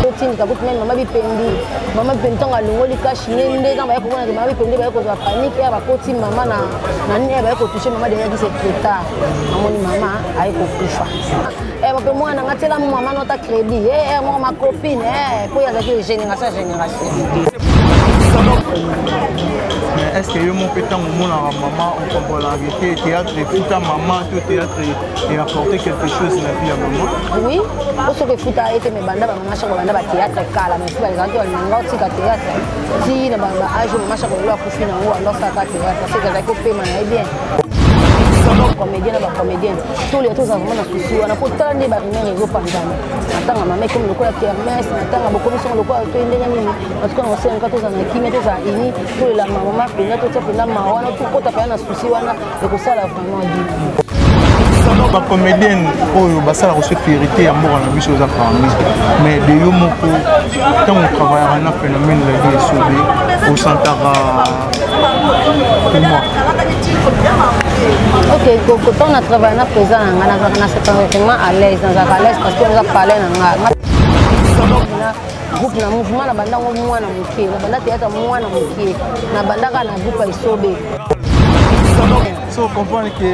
kotindika kutu meme mama bipendi mama bipendi ntango alongoli kashi ne nde ntango baye komonake mama bipendi baye kozwa panike ya bakoti mama na nini ya baye kotouche mama deja kise trotard amoni mama aye kokufa eh, bape mwana nga tiela mama nota crédit eh, eh, moko macopine mpo yazalaki génération génération est ce que yo moko mpe ntango omonaka mama okombolaka te théâtre efuta mama to théâtre et apporter quelque chose na vie ya mama oui po soki efuta ye te me banda bamama shako banda batheatre kala mais soki bazalaki balinga otika theatre ti na baage mama shako lelo akufi na yango ando asalaka theatre soki azalaki opema na ye bien comédien na bacomédien tolia toza vraimen na susi wana po tala nde barimere ezopanzana natanga mama ekomi lokola kermes natanga bokomi songo lokola toye ndenge nini natuka na kosenga toza na kimia toza ini tolela mama mpenza totia mpenza mawa na tokota pena na susi wana ekosala vraiment bien bacomédienne oyo basala koso fierité ya mboka na biso eza parmi mais de yo moko ntango travaillaka na phénomène la vie esobe osantaka ok kotan na travaille na président na ngai nazalaka na sepanga vraiment à l'aise nazalaka à l'aise parce que oza palais na ngai groupe na mouvement na banda ngo mwana moke na banda teyaka mwana moke na bandaka na groupe ya isobe so comprendre ke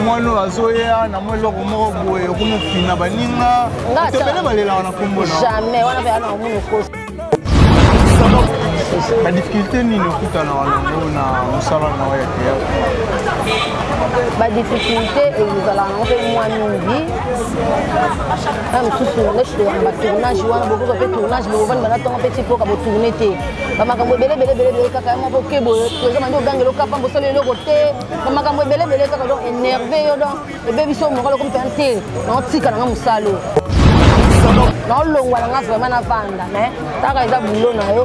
mwana oyo azoya na mwa eloko moko boye okomofina baninga tobele balelaka na kombo na jamais wana mpe ana omoni okosi badifficulté nini okutana wana ngo na mosala na yo ya théâtre badifficulté ezalaka ngo mpe mwa mingi na mosusu neti toyaka batournage wana bokozwa mpe tournage bokovandi bana ntongo mpe tipoka botourne te bamakambo ebelebelebelebele kaka ya moko ke boye toza bandi ogangela okapa mbosali eloko te bamakambo ebelebele kaka donc énerve yo donc ebebisi yo mokolo okomi mpenza te naotika nanga mosalo naolongwa nanga vraimen navanda mais taka eza bulo na yo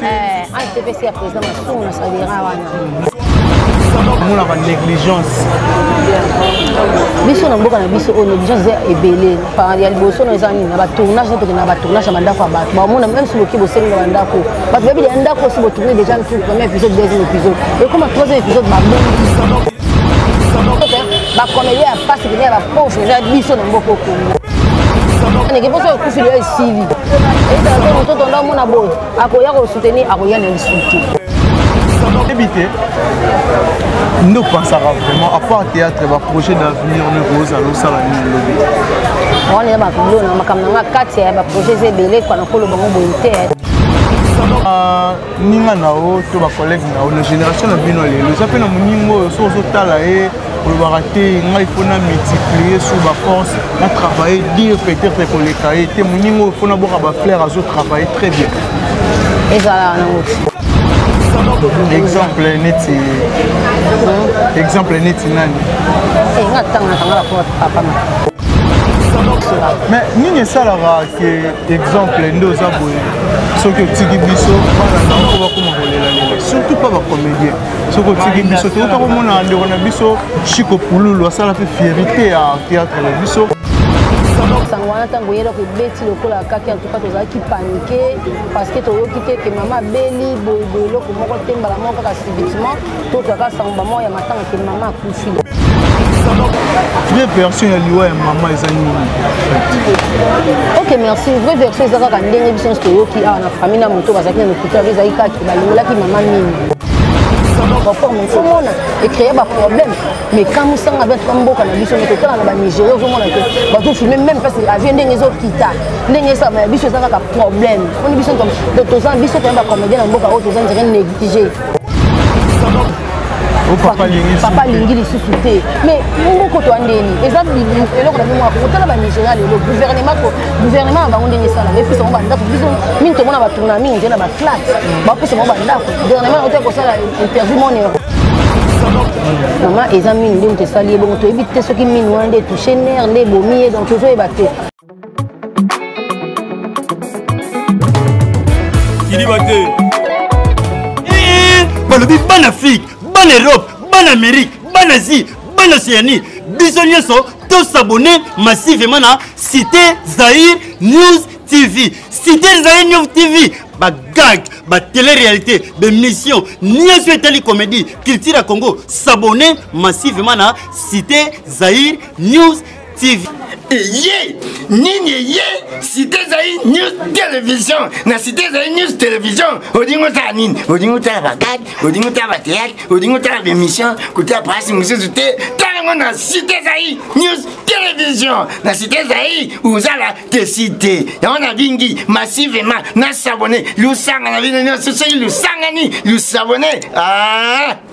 Eh, ATPC ya président masumu na salira wana omonaka négligence biso na mboka na biso oyo négligence eza ebele ya liboso na eza nini na batournage na tokende na batournage ya bandako ya bato bamona meme si boki bosengi na bandako bato bayebi ya ndako osi botourne déjà ntu premier épisode deuxième épisode ekoma troisième épisode babongi bacomédien ya pasi pene ya bapauvre eza biso na mboka okongo sili ezala mpe mototo nde amona boye akoya kosoutenir akoya na lisusu oyebi te nde opansaka vraiment apart théâtre baprojet d'avenir ndeko ozala osala nini lobi wana eza babilona makambo na nga kati ya baprojet eza ebele kwa nakoloba ngo boye te ah, ninga na yo to bacollègue na yo na génération na bino lelo eza mpe na moninga oyo soki ozotala ye olobaka te ngai mpo na multiplier sur baforce na travaille dire peut-être ekoleka ye te moninga oyo mpo na boka bafleur azo travaille très bien ezalaka nango exemple neti exemple neti nani eh, nga tangaka nga bakoa papa na mais nini esalaka ke exemple nde oza boye soki otiki biso bana na yango bakoma kolela lela surtout mpa bacomédien soki otiki biso toyota komona ndeko na biso chiko pululu asala mpe fierité ya théâtre na biso sango wana ntango oyeli oko ebeti lokola kaki antuka tozalaki panike parce que toyoki te ke mama abeli boyeboye eloko moko te mbala moko kaka subitement totwaka sango bamoko ya matanga ke mama akufi vraie version ya liwa ya mama eza nini ok merci vraie version eza kaka ndenge biso nyonso toyoki awa na famille na moto bazalaki na lokuta yango ezalaki kaka balingolaki mama mingi baforme komona ecreye baproblème mais kamusanga bia tuka mboka na biso mete otala na banigéria ozomona te bazofilme même place avie ndenge ezokita ndenge esama ya biso eza kaka problème oni biso toza biso toya bacomédien na mboka oyo toza ndire néglige Oh, papa alingi lisusu te mais moko to andeni eza eloko na bimoko kotala banigeria lelo gouvernement gouvernement na bango ndenge esala epesa bango bandako biso mingi tomona batourna mingi nde na baflat bapesa bango bandako gouvernement na kotaki kosala interview monero mama eza mini nde moto esali ye bongo toyebi te soki mini wana nde touche nere nde ebomi ye donc tozoyeba te kidiba te eh, eh, balobi bana afrique bana europe bana amérique bana asie bana océanie biso nyonso tosabone massivement na cité zaire news tv cité zaire news tv bagag batele-réalité bemission nyonso etali comédie culture ya congo sabone massivement na cité zaire news TV eye nini eye site ezali news television na site ezali news television olingi otala nini olingi otala bakade olingi otala bateatre olingi otala bemission kotala prasi mosusu te talango na site ezali news television na site ezali ozala te site yango na bingi massivement na sabone lusanga na bino nyonso soki lusangani lusabone ah!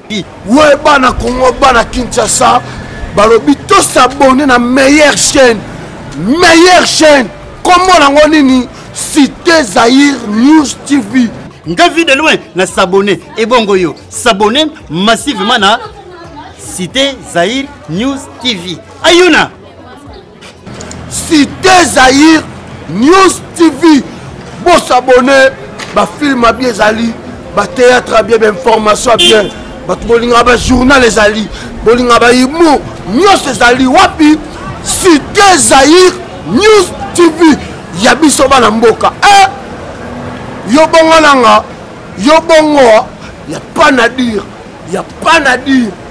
we bana congo bana kinshasa balobi tosabone na meilleure chaîne meilleure chaîne kombo nango nini cité zaire news tv nga vie de loin na sabone ebongo yo sabone massivement na cité zaire news tv ayuna Cité Zaïre News TV bosabone bafilme abi ezali batéâtre abi bainformation abien bato bolingaka bajournal ezali bolingaka bahumour nyonso ezali wapi cité zaïre news tv ya biso bana mboka e yo bongo nanga yo bongo ya pas na dire ya pas na dire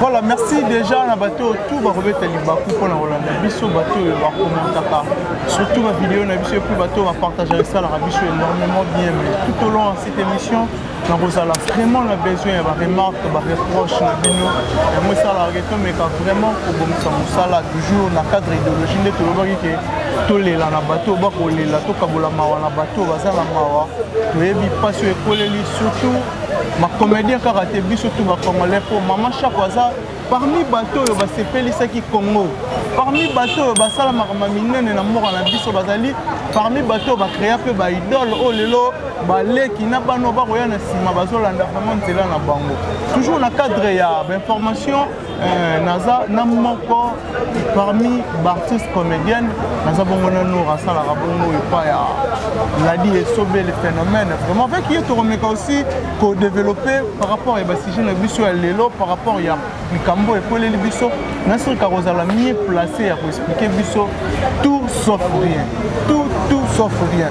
voilà merci déjà na bato oyo tout bakobeta libaku mpo na kolanda biso bato oyo bakomentaka surtout bavideo na biso epuis bato oyo bapartagaka esalaka biso énormément bien mais tout au long ya cette émission nakozala vraiment na besoin ya baremarque bareproche na bino yango esalaka ke tomeka vraiment kobongisa mosala toujours na cadre idéologie nde tolobaki ke tolela na bato bakolela tokabola mawa na bato baza na mawa toyebi mpasi oyo ekoleli surtout bacomédien kaka te biso tu bacongolais mpo mama shako aza parmi bato oyo basepelisaki congo parmi bato oyo basala makambo minene na mboka na biso bazali parmi bato oyo bacrea mpe baidole oyo lelo baleki na bana oyo bakoya na nsima bazolanda vraiment nzela na bango toujours na cadre ya bainformation Eh, naza na moko parmi baartiste comédienne naza bongo na nour asalaka bongo epai ya ladi esobe le phénomène vraiment avec ye tokomeka aussi kodeveloppe par rapport ya basujet na biso ya lelo par rapport ya likambo ekweleli biso nasirika kozala mieux place ya koexplike biso tout sauf rien tout tout sauf rien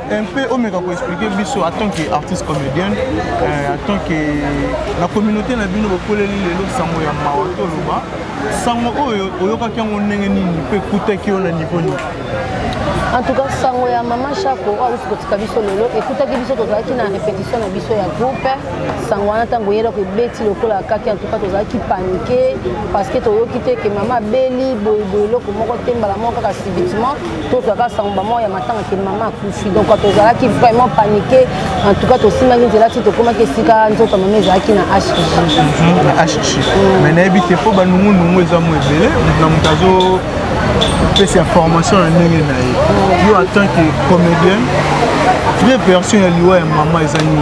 un peu omeka koexplike biso en tant que artiste comédienne euh, en tant que na communauté na bino bokoleli lelo sango ya mawa toloba sango oyo oyokaki yango ndenge nini mpe ekutaki yo na niveau nini en tout cas sango ya mama shako oyo auti kotika biso lelo ekutaki biso tozalaki na répétition na biso ya groupe sango wana ntango eyelako ebeti lokola kaki en tout cas tozalaki panike parce que toyoki te ke mama abeli boyeboye eloko moko te mbala moko kaka subitement tozwaka sango bamoko ya matanga ke mama akufi donc tozalaki vraiment panike en tout cas tosimbaki nzela ti tokomaki esika nzoto mama ezalaki na hg mhm, na hg mm. mais nayebi te mpo banungunungu eza mo ebele na moto azo pesa ya formation na ndenge na ye mm. yo en tant que comédien vraie version ya liwa ya mama eza nini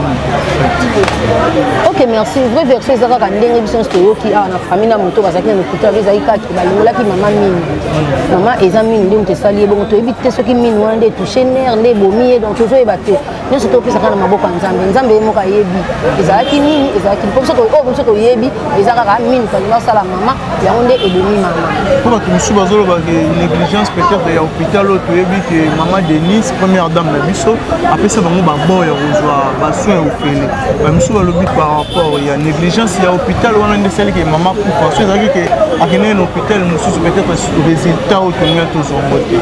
ok merci vraie version eza kaka ndenge biso nyonso toyoki awa na famille na moto bazalaki na lokuta ezalaki kaka balongolaki mama mini mama eza mini nde moto esali ye bongo toyebi te soki mini wana nde touche ner nde ebomi ye donc tozoyeba te nyonso topesa kaka na maboko ya nzambe nzambe ye moko ayebi ezalaki nini ezalaki mpo biso oyo biso toyebi eza kaka mini tolingi basala mama yango nde ebomi mama mpo bato mosusu bazoloba ke négligence peut-être ya hôpital oyo toyebi ke mama denis première dame na biso apesa bango babor ya kozwa basoin ya ofele bamisu balobi par rapport ya négligence ya hôpital wana nde esalaki ke mama kufa so ezalaki ke akendeki na hôpital mosusu peut-être résultat oyo tolingai tozwa yango te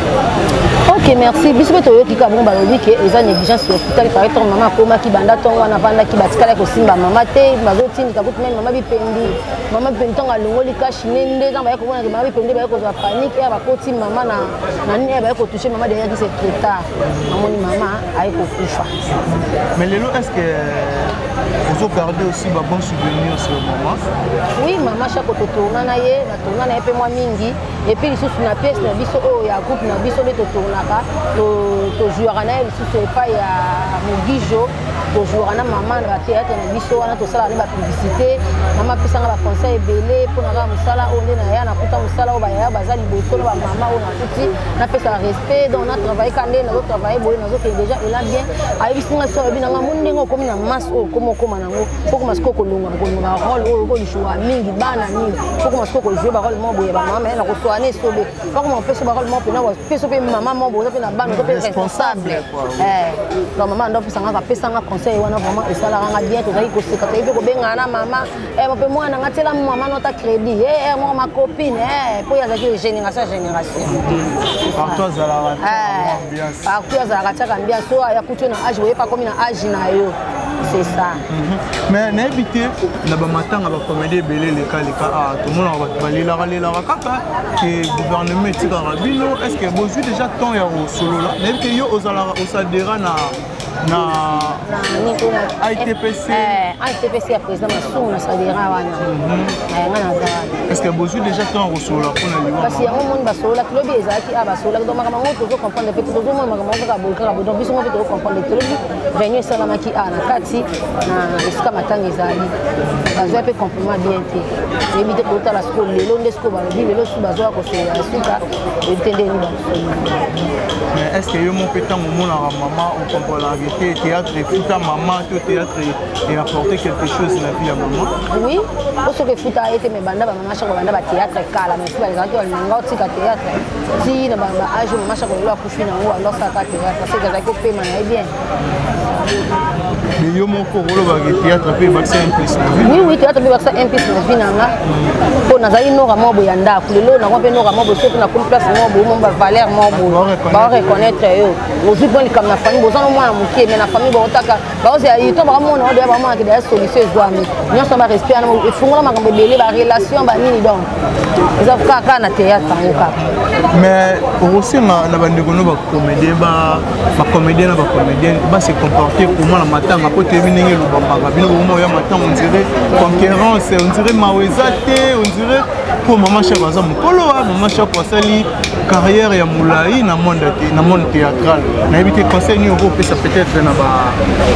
ok merci biso mpe toyoki kaka bongo balobi ke eza négligence ya hôpital par exemple mama akomaki banda ntongo wana avandaki batikala kosimba mama te bazotindika kutu meme mama bipendi mama bipendi ntango alongoli kashi ne nde ntango baye komonake mama bipendi baye kozwa panike ya bakoti mama na na nini baye kotouche mama deja ki se trop tard namoni mama aye kokufa mais lelo est ce que euh, ozo garde aussi ba bon souvenir sur mama oui mama chako totourna na ye natourna na ye mpe mwa mingi epuis lisusu na pièce na biso oyo oh, ya groupe na biso nde totournaka tozuaka na ye lisusu epai ya mogijo tozwaka na mama na batheatre na biso wana tosalaka nde bapublicité mama apesanga baconseil ebele mpo na kaka mosala oyo nde naya nakuta mosala oyo bayaya baza liboso na bamama oyo nakuti napesaka respect donc natravaille ka nde nazotravaille boye nazokende deja ela bien ayebisi nga so alobi nanga moni ndenge okomi na masse oyo okoma okoma nango fokoma sikoyo kolonga kolonga role oyo okolishoa mingi bana nini fokoma sikoyo kozwe barole moko boye bamama ye nakoswana esobe bakoma kopesa bakolo moko mpena pesa mpe mama moko boza mpe na bana oza mpe responsable eh, donc mama ando apesa ngaka apesa nga conseil wana vraiment esalaka nga bien tozalaki koseka toyebi mpe kobengana na mama eh, mpe mwana nga tiela mama nota crédit eh, moko macopine mpo ye azalaki génération génération partout azalaka tiaka ambiance so ayakuti yo na age oyepa komi na age na yo c'est ça mhm. mais nayebi te na bamatanga bakomedi ebele elekaleka ah, tomonaka bato balelaka lelaka kaka ke gouvernement etikaka bino est ce que bozwi déjà temps ya kosolola nayebi te yo ozalaka osadera na na ITPC eh, ITPC ya président Massoum na Sadira wana mhm. eh, nga naza wana est-ce que bozwi déjà temps kosolola mpo na liwa kasi yango moni basololaki lobi ezalaki a ah, basololaki donc makambo yango tozo comprendre mpe tozomona makambo yango kaka boye kaka boye donc biso ngo mpe tozo comprendre te lobi réunion esalamaki a ah, na kati na esika matanga ezali bazwa mpe compliment bien te oyebi te kotala sikoyo lelo nde sikoyo balobi lelo su bazwaka kosolola ya suka oyebi te nde nini mais est ce que yo moko mpe ntango omonaka mama okomponaka te théâtre efuta mama to théâtre eapporte quelque chose na vie ya mama oui po soki efuta ye te mais banda bamama shako banda bathéâtre kala mais si balingaka te balinganga otika théâtre ti na baage mama shako lelo akufi na yango banda osalaka théâtre parce que ezalaki opema na ye bien mais yo moko olobaka théâtre mpe ebakisa implis oui oui théâtre mpe ebakisa implis na vie na nga mpo nazali noka moko boye ya ndako lelo nako mpe noka moko boye soki nakomi place moko boye mo bavaleur moko boye baoreconnaitre yo ozwi mpo likambo na famille boza no mwana moke mais na famille baotaka baozela ito bakamona odeya bamonaka deya solution ezwami nyonso barespect wana efungola makambo ebele barelation banini donc eza kaka kaka na théâtre yango kaka mais okosenga na bandeko no bacomédien bacomédien na bacomédienne base comporte comment na matanga mpo toyebi ndenge elobamaka bino bokoma oya matanga ondire concurrence ondire mawa eza te ondire mpo mama shako aza mokolo wa mama shako asali carrière ya molai na monde na monde théâtral nayebi te conseil nini okopesa peut-être na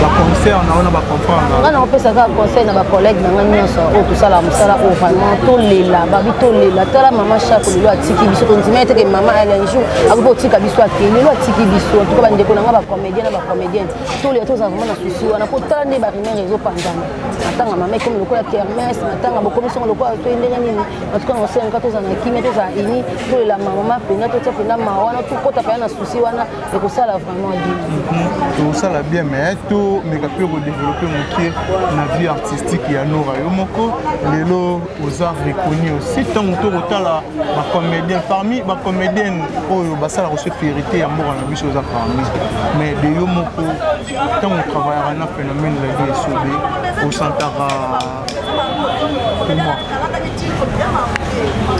baconcert na wana bacomprendre nga nakopesa kaka conseil na bacollègue na nga nyonso oyo tosala mosala oyo vraiment tolela babi tolela tala mama chako lelo atiki biso tondima eteke mama alain jour akoki otika biso ake lelo atiki biso antuka bandeko na nga bacomédien na bacomédienne tolela tozala vraiment na susi wana po tala nde barimere ezopanzana matanga mama ekomi lokola kermes matanga bokomi songo lokola toye ndenge nini en tout cas nasenga tozala na kimia tozala ini tolela mamama mpenza totya mpenza mawa wana tokota mpenza na susi wana ekosala vraiment bien mhm. tosala bien mais tomeka mpe kodeveloppe moke na vie artistique ya nora yo moko lelo oza reconnu aussi ntango tokotala bacomédien parmi bacomédienne oyo basalaka se férité ya mboka na biso oza parmi mais de yo moko ntango travaillaka na phénomène la vie esobe osantaka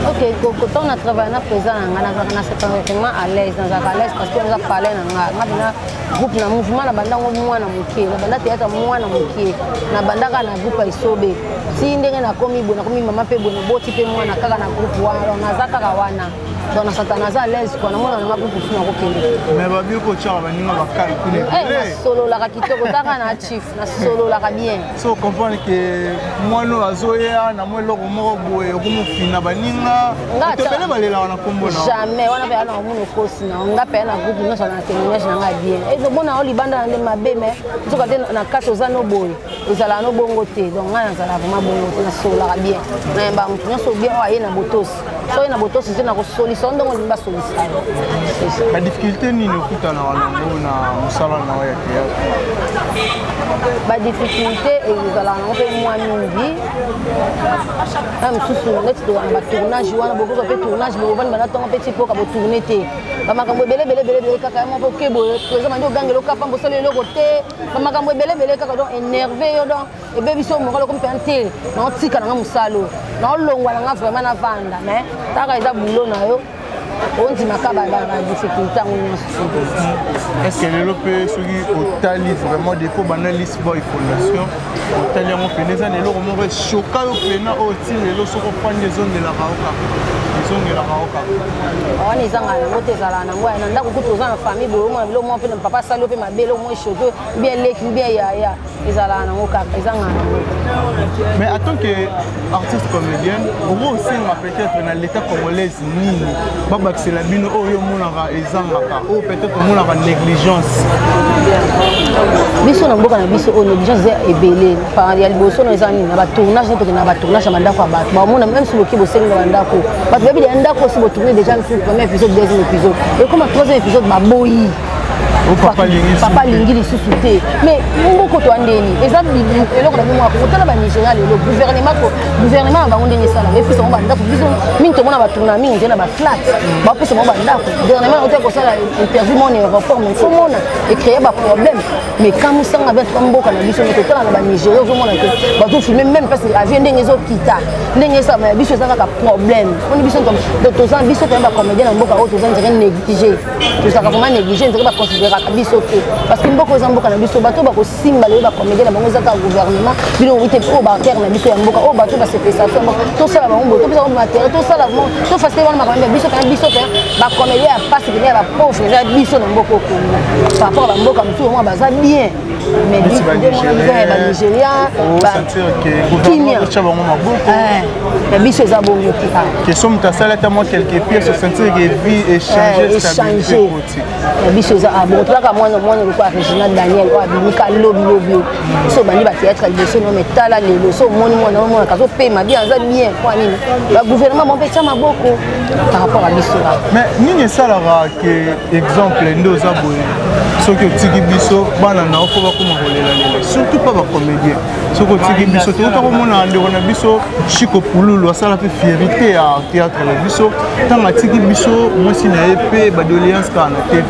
ok kokotan na travaille na président na ngai nazalaka na septembre vraiment à l'aise nazalaka à l'aise parce que naza palais na ngai nga bina groupe na mouvement na banda ngo mwana moke na banda teyaka mwana moke na bandaka na groupe ya isobe ti ndenge nakomi boye nakomi mama mpe boye naboti mpe mwana kaka na groupe wana naza kaka wana donc na satana aza alaise kua namona nanga mpe kusu nakokende mais babi kotyaka baninga bakali kuna eh, sololaka kitoko taka na chief nasololaka bien so comprendre ke mwana oyo azoya na mwa eloko moko boye okomofina baninga tobele balelaka na nkombo na jamais wana mpe ana omona okosi na nga mpe na groupe nyonso na témoignage na ngai bien ezomona yo libanda na nde mabe me nzoka te na kati oza no boye ezalaka no bongo te donc ngai nazalaka vraimen bongo te nasololaka bien nayembaka moto nyonso bien oyo aye na botosi soki na botosi te nakosolisa yo ndenge olingi basolisa yo badifficulté nini okutana wana ngo na mosala na yo ya théâtre badifficulté ezalaka nango mpe mwa mingi na mosusu neti towana batournage wana bokoka mpe tournage bobani bana ntongo mpe ti mpoka botourne te bamakambo ebele ebele ebele ebele kaka yango mpo keboye toza bandi ogangela okapa mbosali eloko te bamakambo ebele ebele kaka donc énerve yo donc ebebisi oyo mokolo okomi mpena te naotika na nga mosala oyo naolongwa na nga vraimen navanda mai kaka eza bulo na yo ondimaka badifficulté yango nyonso estce lelo mpe soki otali vraiment depo banda lisboy fondation otali yango mpena eza na eloko moko eshoka yo mpena oyo ti lelo soki ofandi ezongelaka yo kaka ezongelaka yo kaka wana ezanga yango te ezalaka nango na ndako kutu oza na famille boyomona biloko mwa mpe na papa asali yo mpe mabe eloko mwa eshoke bien leki bien yaya ezalaka nango kaka ezanga nango mais en tant que artiste comédienne okoki osenga peut-être na l'état congolaise nini babakisela bino oyo omonaka ezangaka oyo peut-être omonaka négligence biso na mboka na biso oyo négligence eza ebele ya liboso na eza nini na batournage na tokende na batournage ya bandako ya bato bamona meme si boki bosengi na bandako bato bayebi ya ndako osi botourne déjà première épisode deuxième épisode ekoma troisième épisode baboyi Oh, papa alingi lisusu te mais mboko to andeni eza eloko na bimoko kotala banigeria lelo gouvernement gouvernement na bango ndenge esala epesa bango bandako biso mingi tomona batourna mingi nde na baflat bapesa bango bandako gouvernement yango te kosala interview mona aéroport mais fo mona ecreye baproblème mais kamusanga bien tuka mboka na biso nde totala na banigeria ozomona te bazofilme même mpasi avie ndenge ezokita ndenge esalama ya biso eza kaka problème oni biso biso toza biso toya bacomédien na mboka oyo toza nzeke néglige tozalaka vraiment néglige nzaka baconsideraka biso te parce que mboka eza mboka na biso bato bakosimba lelo bacomédien na bango ezaka gouvernement bino oyi te oyo batere na biso ya mboka oyo bato basepesa biso mboka tosala bango boye topesa bango matériel tosala tofasile wana makambo ya biso kana biso te bacomédien ya pasi pene ya bapauvre eza biso na mboka okongo par rapport ya bamboka mosusu omona baza bien neti banigérien osantirkekimyaotya bango maboko ya biso eza bongo te question moto asali ata mwa quelque pièce osantirke vie échange ya biso eza abongo tolaka mwana mwana lokola réginal daniel oyo abimika lobilobi so obandi batéâtre liboso no me tala lelo so omoni mwana omonaka azopema bien aza bien mpo nini bagouvernement bango mpe tya maboko par rapport ya biso mais nini esalaka ke exemple nde oza boye soki otiki biso bana na yo mpo bakoma kolelalela surtout mpa bacomédien soki otiki biso tokota komona ndeko na biso chiko pululu asala mpe fierité ya théâtre na biso ntango atiki biso mwasi na ye mpe badoléance kaka na tv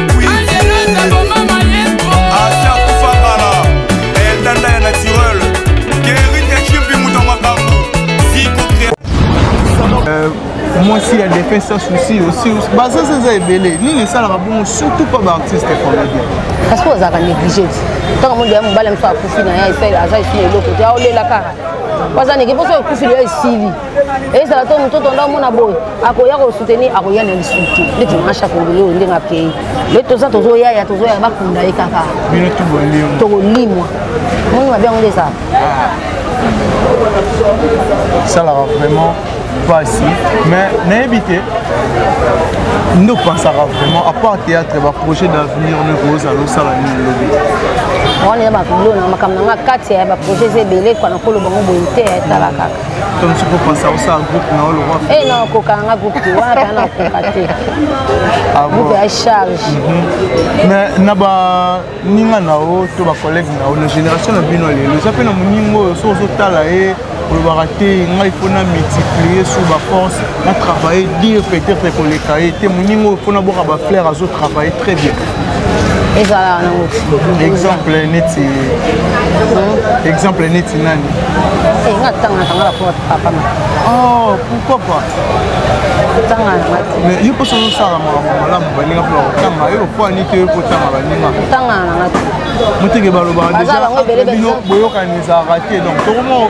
mwasi ya defunt sa souci aussi bazaza eza ebele nini esalaka bongo surtout mpo baartiste comédien parce que ozalaka néglige ti ntango mondo ya mobali mosusu akufi na ye aza esili eloko te aolela kaka wazaneke mposo okufi loya esili ezala to moto tonda omona boye akoya kosoutenir akoya na lisusu te ndeti masha kongele oyo ndenge akei le toza tozoyaya tozoyaya bakunda ye kaka tokolimwa moni mabe yango nde ezala esalaka ah. vraiment mpasi mais nayebi te nde opansaka vraiment à part théâtre baprojet d'avenir ndeko ozala osala nini lobi wana ya babilona makambo na nga kati ya baprojet eza ebele kwana koloba ngo boye te etalaka Comme tu peux penser à ça, groupe, non, le roi. Eh non, coca, un groupe, tu vois, t'as un coca, t'es. Ah bon. Groupe à charge. Mhm. Mais, naba, ninga nao, to ba collègue nao, la génération na bino lelo, ça fait na muningo, so so tala e, olobaka te, nga il faut na multiplier sur ba force, na travailler dire peut-être koleka e, te muningo il faut na boka ba flair azo travailler très bien. ezala wana ngo exemple neti hmm? exemple neti nani eh, nga tanga na tanga la pour papa ma oh pourquoi pas tanga na mati mais yo poso osala makambo malamu baninga mpo bakotanga yo mpo ani te okotanga baninga tanga na mati moteke balobaka deja boyokani ezalaka te donc tokomo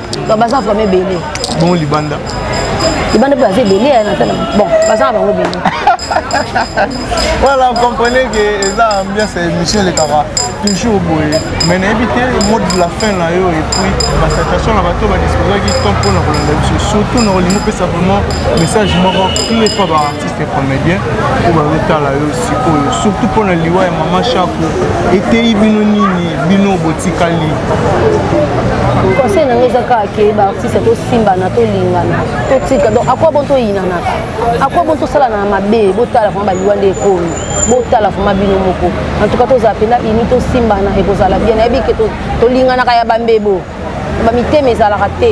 baza vraiment ebele bongo libanda libanda mpe baza ebele eh, natana bon baza na bango ebele voilà comprenez que eza ambiance ya émission elekaka toujours boye mais nayebi te mode de la fin na yo epuis basatation na bato badisposaki temps mpo na kolanda biso surtout na olingi opesa vraiment message moko clé mpo baartiste te comédien oyo bazotala yo sikoyo surtout mpo na liwa ya mama shako eteyi bino nini bino botikali conseil na ngai eza kaka ke baartiste tosimbana tolingana totika donc akwa bon toyinanaka akwa bon tosalana na mabe botala vraimen baliwa nde ekomi botala vraimen bino moko en tout cas tozala mpenza ini tosimbana ekozala bien nayebi ke tolinganaka ya bambebo ba mitema ezalaka te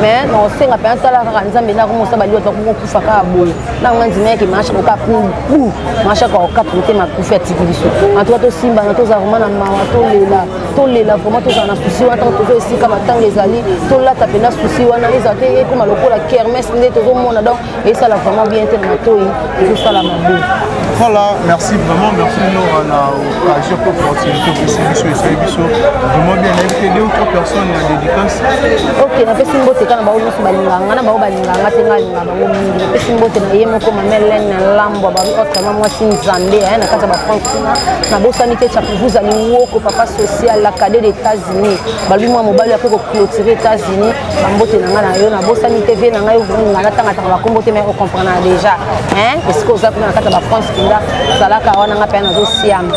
mais nakosenga mpe asala kaka nzambe nako mosa baliwa tokokufa kaka boye ntango nga ndima yeke maasha koka bu maasha kakokata mitema akufi atiki biso antuka tosimbana tozala vraimen na mawa tolela tolela vraimen tozala na susi wana ntango tozo esika matanga ezali tolata mpenza susi wana ezala te ekoma lokola kermes nde tozomona donc esala vraiment bien te na matoi ezosala mabe voilà merci vraiment merci nora na occasion mpe opportunité opesi biso esali biso vraiment bien nayebi te deux ou trois personnes ya dédicace ok napesi mbote kaka na bango nyonso balingaka nga na bango balingaka nga te nga alingaka bango mingi napesi mbote na ye moko mamelene na lambwa babi otre ma mwasi nzambe aya na kati ya bafranc kuna nabosani te chapuvuza liwoko papa social la cade d'états-unis balobi mwa mobali ape koclotire états-unis bambote na ngai na yo nabosani te vie na ngai nga natangataka bakombo te mai ocomprendaka déjà esika oza kuna na kati ya bafrance mpenza zalaka wana ngai mpe nazosiama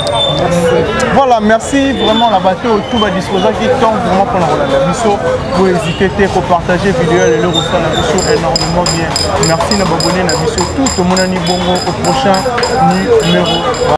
voilà merci vraiment na bato oyo tout badisposaki temps vraiment mpona kolanda biso bohésite te kopartage video ya lelo kosala biso énormément bien merci na babone na biso tout tomonani bongo au prochain numéro